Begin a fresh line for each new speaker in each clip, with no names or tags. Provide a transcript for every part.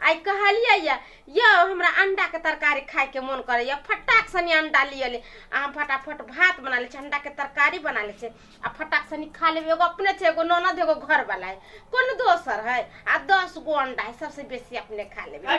आइ कहलियै या यौ हमरा अंडाके तरकारी खायके मोन करैए फटाक सनी अंडा लिअ ले आ हम फटाफट भात बना लै छी अंडाके तरकारी बना लै छी आ फटाक सनी खा लेबै एगो अपने छै एगो ननद एगो घरवला है कोनो दोसर है आ दस गो अंडा है सबसे बेसी अपने खा लेबै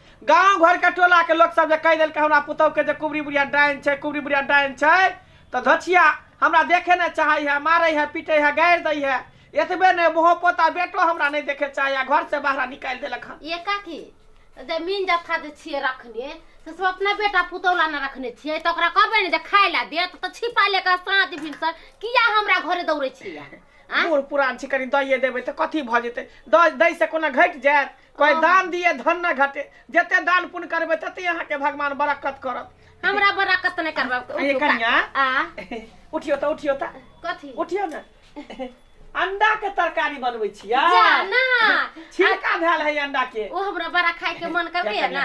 गाँव घर के टोला के लोग सब जे कह देलकै हमरा पुतौ के जे कुबरी बुढ़िया डाइन छै कुबरी बुढ़िया डाइन छै तो धोछिया हमरा देखे न चाहे है मारे है पीटे है गाड़ दै है एतबे ने मुँह पोता बेटो हमरा नहीं देखे चाहे है घर से बाहर निकाल देलक हन ये काकी जमीन जथा जे छियै रखने से सब अपना बेटा पुतौला ने रखने छियै तऽ ओकरा कहबै ने जे खाय लए देत तऽ छिपा ले कऽ साँझ भिनसर किया हमरा घरे दौड़ै छियै आँय? बूढ़ पुरान छी कनी दइए देबै तऽ कथी भऽ जेतै दऽ दै से कोना घटि जायत कोई दान दिए धन न घटे जते दान पुण्य करबे तते यहाँ के भगवान बरकत करत हमरा बरकत नहीं करबा आ ये कन्या आ उठियो त उठियो त कथी उठियो न अंडा के तरकारी बनबै छियै जा ना छिलका धैल है अंडा के ओ हमरा बड़ा खाए के मन करबे है ना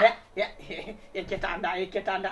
एकेटा अंडा एकेटा अंडा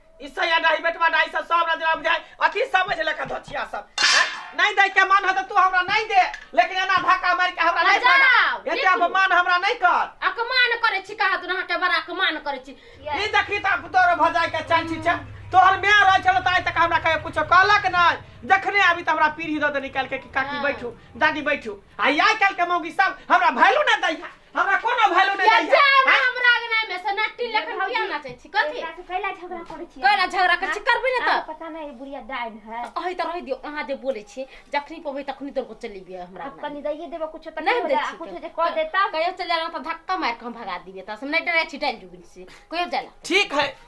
ई सैया डाही बेटवा डाही सब सब रजरा बुझाय अथी समझ ले का धचिया सब हैं? नहीं दे के मन हो तो तू हमरा नहीं दे लेकिन एना धक्का मार के हमरा नहीं जाओ, भागा। एते बिल्कुल। अपमान हमरा नहीं कर अकमान करे छी कहा तू हटे बड़ा अकमान करे छी ई देखी त अब तोर भजाय के चल छी छ तोहर मैं रह चल त आइ तक हमरा कहे कुछ कहलक नहीं देखने आबी त हमरा पीढ़ी द दे निकाल के कि काकी हाँ। बैठू दादी बैठू आ आइ काल के मौगी सब हमरा भैलू ना दैया हमरा कोनो वैल्यू नहि दै जा छै हमरा हमरा आगे ना में से नट्टी लेखन किया ना चाहै छी कथी एकरा से कैला झगड़ा करै छी कहला झगड़ा कर छी करबे ना अहाँ त पता नहीं बुढ़िया डाइन है अहि त रहि दियो अहाँ जे बोलै छी जखनी पबै तखनी तोर को चली बिया हमरा आप ना कनी दइए देबो कुछ तक नहीं हो दै जाए, छी कुछ जे कह देता कहियो चल जाला त धक्का मार के हम भगा दिबे त हम नहीं डरे छी डाल जुबिन से कहियो जाला ठीक है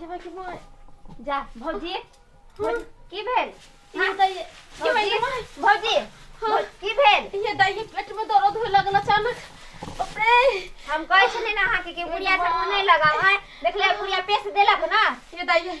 जेबै कि माय जा भौजी भौजी, की भेल ये दाइए ये भौजी मेरे माय भौजी भौ- की भेल ये दाइए पेट में दर्द होए लगल अचानक बाप रे हम कहै छलियै ने अहाँके कि बुढ़िया सब नहि लगाव है देखले बुढ़िया पेश देलक ना ये दाइए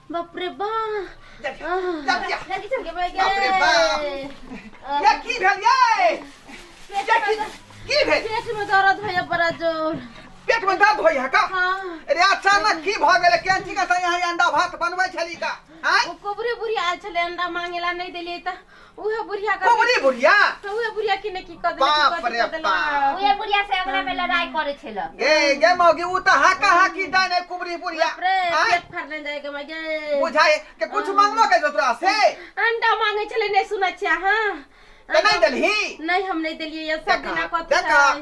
বাপরে বা কি भऽ गेलै केहन ठीक अंडा भात बनबै छली का कुबरी बुरी आयल छलै अंडा मांगेला नहि देलियै तऽ उहे बुढ़िया का कोबरी बुढ़िया तो उहे बुढ़िया की ने की कर बाप देलक रे बाप। उहे बुढ़िया से अगला में लड़ाई करे छे ला गे गे मौगी उ त हाका हाकी दाने कुबरी बुढ़िया रे आय, पेट फाड़ ले जाए के मगे बुझाए के कुछ मांगबो के तोरा से अंडा मांगे छले नहीं सुना छिया हां त नहीं देलही नहीं हम नहीं देलिए ये सब बिना कथी देखा है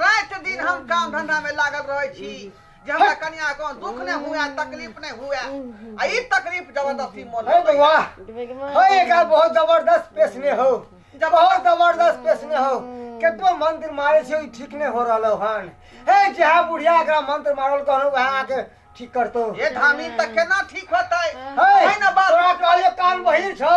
रात दिन हम काम धंधा में लागल रहे छी जे हमरा कनिया को दुख ने हुए तकलीफ ने हुए आ ई तकलीफ जबरदस्ती मोल है होइए। बउआ हो एक आध बहुत जबरदस्त पेश में हो जब बहुत जबरदस्त पेश में हो केतनो मंत्र मारे छे ई ठीक नहीं हो रहलो हन हे जहा बुढ़िया एकरा मंत्र मारल कहलो वहां आके ठीक करतो ये धामी तक केना ठीक होतै है है ना बात तोरा कहलियो कान बहिर छौ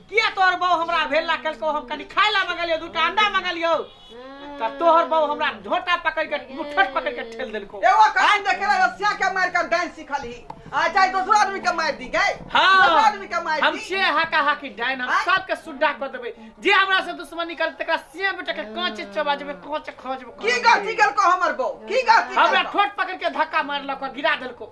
किया तोहर बहू हमरा भेल ला कहलको हम कनी खाय ला मंगलियो दूटा अंडा मंगलियो त तोहर बहू हमरा झोटा पकड़ के मुठट पकड़ के ठेल देलको एगो काम देखे रहे रसिया के मार के डांस सिखल ही आ चाहे दोसरो आदमी के मार दी गए हाँ। दोसरो आदमी के मार हम दी से हाका हाकी डाइन हम आँय? सबके सुड्डा कर देबै जे हमरा से दुश्मनी करत तकरा से बेटा के कांचे चबा जेबै कांचे खा जेबै की गलती कल को हमर बो की गलती हमरा कल ठोट पकड़ के धक्का मारलक गिरा देलको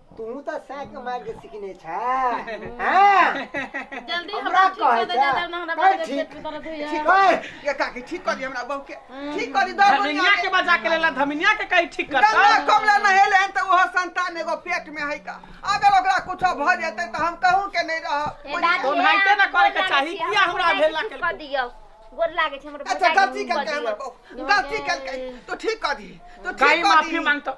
तू तऽ साइक मार के सिखने छ हां जल्दी हमरा कहे छ कर ठीक ठीक कर ये काकी ठीक कर दी हमरा बहू के ठीक कर दी दर धमिनिया के बजा के लेला धमिनिया के कहीं ठीक कर गंगा कमला नहेले हन त ओहो संतान एगो पेट में है का अगर ओकरा कुछ भ जेते त हम कहूं के नहीं रह तो भाईते ना करे के चाही किया हमरा भेला के कर दियो गोर लागे छै हमर अच्छा गलती कल के हमर गलती कल के तो ठीक कर दी तो ठीक कर दी माफी मांगतो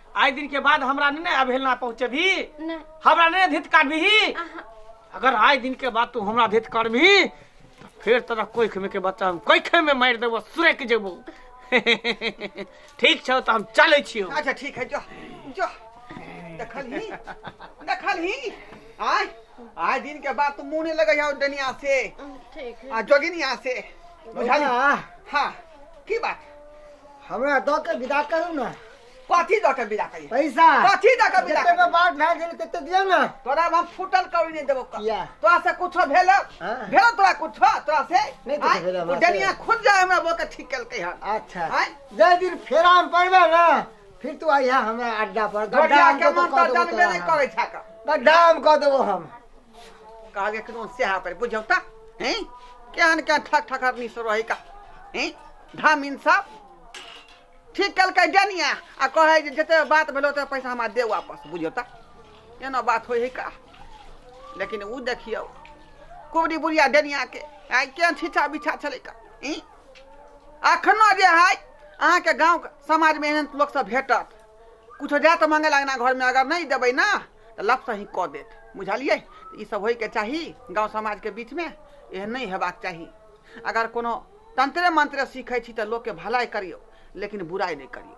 आइ दिन के बाद हमरा नहीं ने अवहेलना पहुंचेबी नहीं हमरा नहीं धित काटबी अहाँ अगर आइ दिन के बाद तू हमरा धित करबी तो फिर तोरा कोई खेमे के बच्चा हम कोई खेमे मार देबो सुरे के जेबो ठीक छौ तो हम चले छियो अच्छा ठीक है जो जो देखल ही देखल ही आय आय दिन के बाद तू मुंह नहीं लगे जाओ डनिया से ठीक है आ जोगिनिया से बुझल बौआ, हाँ की बात हमरा दऽ के विदा करू ने कथी दऽ के विदा करिए पैसा कथी दऽ के विदा जते करिए? बात भए गेल तते दियो ना तोरा हम फूटल कौड़ी नहीं देबो कर। किया? तोरा से कुछो भेल हाँ। भेल तोरा कुछो तोरा से नहीं कुछो आँय? भेल हमरा ओ डनिया से। खुद जाए हमरा बोके ठीक कलकै हन अच्छा आँय? जय दिन फेरा में पड़बे ना फिर तू आइहा हमरा अड्डा पर गड्ढा गोरिया हम के कतौ मन कऽ तो देबो जनबे तोरा नहीं हम। करै छै का गड्ढा हम कऽ देबो हम कहलिए कि से हाथ पर बुझौ त हैं केहन केहन ठक ठकरनी से रहै का हैं धामिन सब ठीक केलकै डेनिया आ कहै जे जते बात भेल ओते पैसा हमरा दे वापस बुझियौ तऽ एना बात होइ है का लेकिन ओ देखियौ कुबरी बुढ़िया डेनियाके आइ केहन छिछा बिछा छलै का ई अखनो जे है अहाँके गाँव समाजमे एहन लोकसभ भेटत किछो जात मांगे लगना घरमे अगर नहि देबै ने तऽ लपसँ ही कऽ देत बुझलियै ई सब होइके चाही गाँव समाजके बीचमे एहन नहि हेबाक चाही अगर कोनो तंत्रे-मंत्रे सीखै छी तँ लोककेँ भलाइ करियौ, लेकिन बुराइ नै करियौ।